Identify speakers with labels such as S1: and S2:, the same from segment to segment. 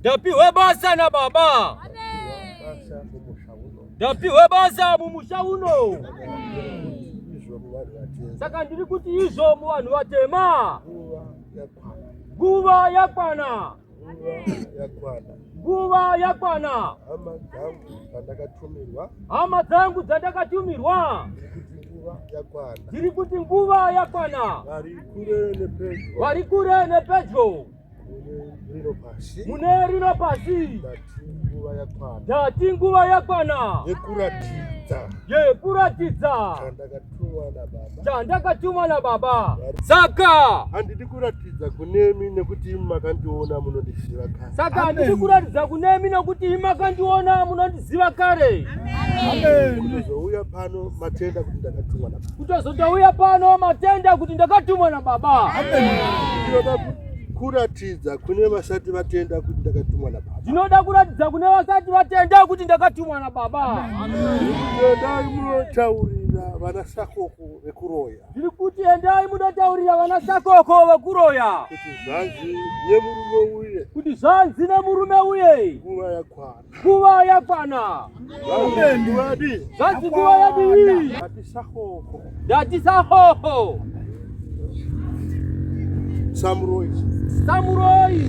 S1: ndapihwe basa nababa ndapihwe basa mumusha uno saka ndiri kuti izvo muvanhu vatema nguva yakwana nguva yakwana hama dzangu dzandakatumirwa dziri kuti nguva yakwana vari kure nepedyo mune rino pasi ndati nguva yakwana yekuratidza chandakatumwa nababa saka handidi
S2: kuratidza kunemi nekuti imi makandiona munondiziva saka handidi kuratidza
S1: kunemi nekuti imi makandiona munondiziva ziva kare kutozouya
S2: pano matenda kuti ndakatumwa na kutozotouya pano
S1: matenda kuti ndakatumwa na baba ndinoda
S2: kuratidza kune vasati vatenda kuti ndakatumwa na baba ndinoda kuratidza kune
S1: vasati vatenda kuti ndakatumwa na baba ndinoda
S2: munotauri kuenda vanasakoko vekuroya ndiri kuti endai
S1: munotaurira vanasakoko vekuroya kuti zvanzi
S2: nemurume uye kuti zvanzi
S1: nemurume uye nguva yakwana
S2: Nguva yakwana.
S1: Zvanzi nguva yadii?
S2: Ndatisa
S1: hoho.
S2: Samuroi. Samuroi.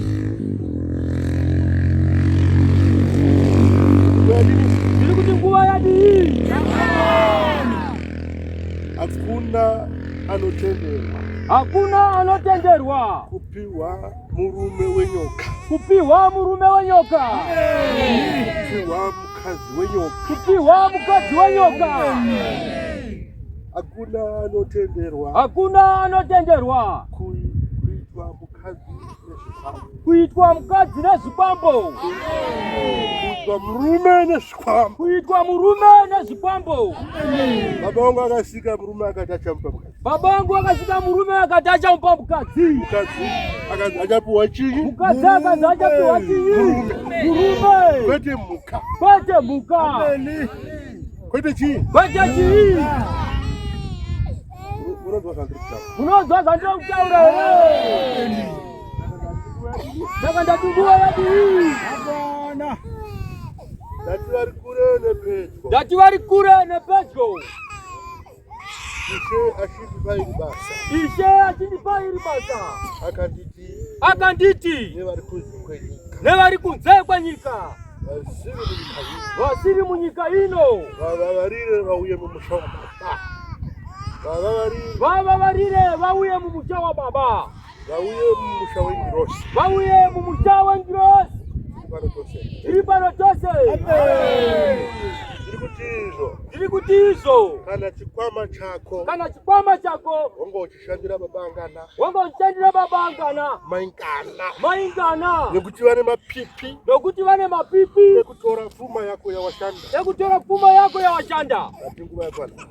S1: Ndiri kuti nguva yadii? Hakuna
S2: anotenderwa. Hakuna
S1: anotenderwa kupiwa
S2: Murume wenyoka. Kupihwa murume
S1: wenyoka. Kupihwa
S2: mukadzi wenyoka. Kupihwa mukadzi
S1: wenyoka.
S2: Hakuna anotenderwa. Hakuna
S1: anotenderwa. Kuitwa
S2: mukadzi nezvikwambo. Kuitwa mukadzi
S1: nezvikwambo.
S2: Kuitwa murume nezvikwambo. Kuitwa murume
S1: nezvikwambo. Baba
S2: wangu akasika murume akati achamupa mukadzi. Baba wangu akasvika
S1: murume akati achamupa mukadzi. Mukadzi
S2: akati achapiwa chinyi? Mukadzi akati achapiwa
S1: chinyi? Murume. Kwete muka.
S2: Kwete muka.
S1: Ameni.
S2: Kwete chii? Kwete chii? Unonzwa
S1: zvandiri kutaura. Unonzwa zvandiri kutaura here? Saka ndatumbua yadii? Hapana.
S2: Ndati vari kure nepedyo. Ndati vari kure
S1: nepedyo. Ishe
S2: achindipa iri basa. Ishe achindipa
S1: iri basa. Akanditi. Akanditi. Nevari kunze kwenyika.
S2: Nevari kunze
S1: kwenyika. Vasiri munyika ino. Vavavarire
S2: vauye mumusha wababa.
S1: Vavavarire vauye mumusha wababa. Vauye mumusha
S2: wengirosi. Vauye mumusha
S1: wengirosi. Tiri pano tose. Tiri kuti izvo. Tiri kuti izvo. Kana chikwama chako. Kana chikwama chako. Wanga uchishandira
S2: babangana. Wanga uchishandira babangana. Maingana.
S1: Maingana. Nekuti vane
S2: mapipi. Nekuti vane mapipi. Nekutora pfuma yako yawashanda. Nekutora pfuma yako yawashanda. Ati nguva yakwana.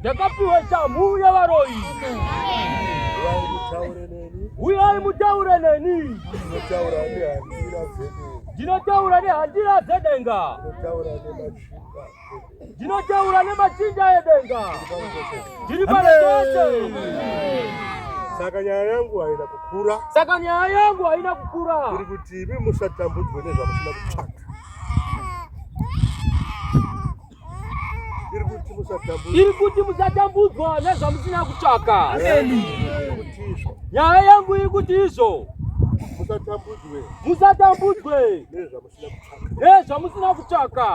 S2: ndakapiwa shamhu yevaroyi uyai mutaure neni ndinotaura nehandira dzedenga ndinotaura nemachinja edenga ndiri pareese saka nyaya yangu haina kukura saka nyaya yangu haina kukura iri kuti imi musatambudzwe nezvamusina kutsvaka iri kuti musatambudzwa nezvamusina kutsvaka. Nyaya yangu iri kuti izvo musatambudzwe nezvamusina kutsvaka.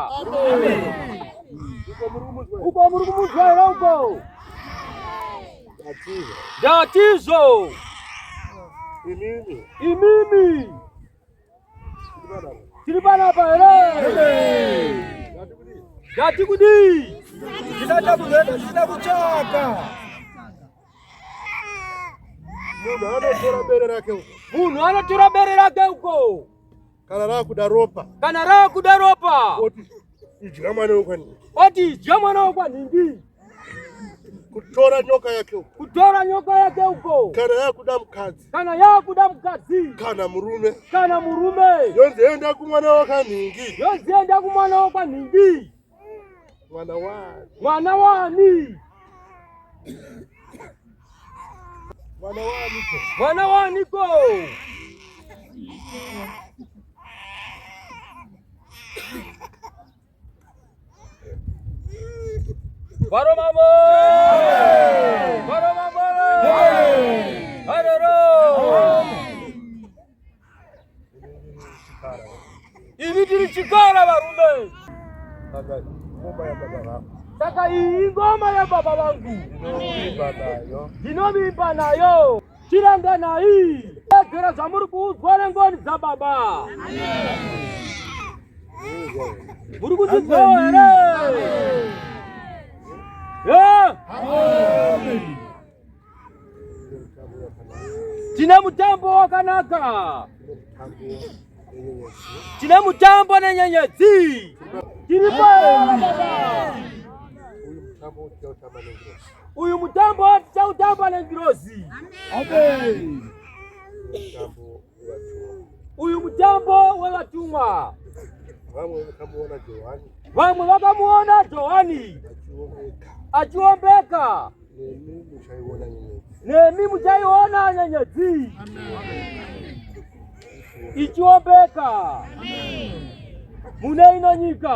S2: Uko muri kumunzwa here uko? Ndatizvo
S1: imimi Tiri panapa here? Gati kudii? Tinada
S2: kuenda, tinada kuchaka. Munhu anotora bere rake uko. Munhu anotora bere rake
S1: uko. Kana raakuda
S2: ropa. Kana raakuda ropa. Idya mwana wekwanhingi. Oti idya mwana wekwanhingi. Kutora nyoka yake uko. Kutora nyoka yake uko. Kana yakuda mukadzi. Kana yakuda mukadzi. Kana murume. Kana murume. Yonzi enda kumwana wekwanhingi. Yonzi enda kumwana wekwanhingi. Mwana wani? Mwana wani? Mwana wani ko? Mwana wani ko? Baro mambo! Baro mambo! Haroro! Ini tiri chikara varume. Saka ngoma ya baba vangu. Saka iyi ngoma ya baba vangu. Ndinovimba nayo. chiranganai tedzera zvamuri kuudzwa nengoni dzababa muri kutidzoo here tine mutambo wakanaka Tine mutambo na nyenyedzi. Tiri Uyu mutambo tichautamba nengirozi. Amen. Uyu mutambo wevatumwa. Vamwe vakamuona Johani. Vamwe vakamuona Johani achiombeka. nemi muchaiona nyenyedzi ichiombeka mune ino nyika.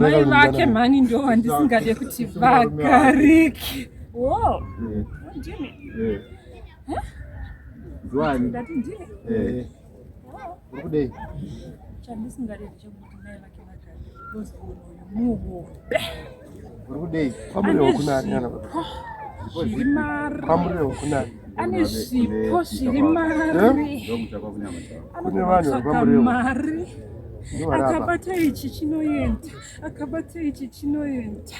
S3: mai vake mhani ndo vandisingade kuti vagarike
S4: chandisingade
S3: chekuti mai vake vagare muhope uri
S4: kudei kwamuriro kunani
S2: zviri mari kwamuriro kunani ane zvipo
S3: zviri
S2: mari
S3: kune vanhu vari
S2: kwamuriro mari
S3: akabata ichi chinoenda akabata ichi chinoenda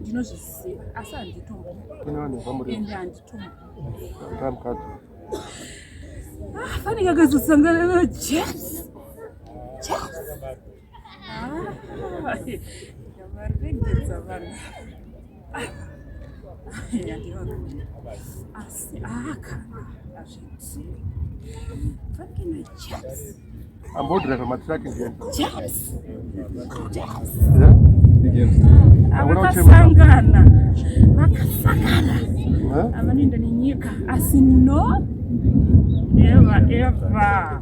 S3: ndinozviziva asi handitomboende handitombofanike ah, akazosangana najesu ambodira
S4: pamatraki
S3: vakasangana vakasangana avanoenda nenyika asi no never ever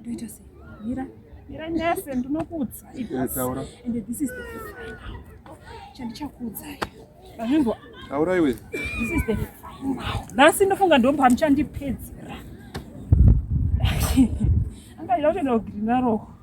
S3: ndoita sei mira mira nyase ndinokuudza taura and this is the final chandichakuudzai azvinzwa taura iwe
S4: this is the
S3: final nhasi ndofunga ndomba muchandipedzera angaida kutoenda kugirinaroko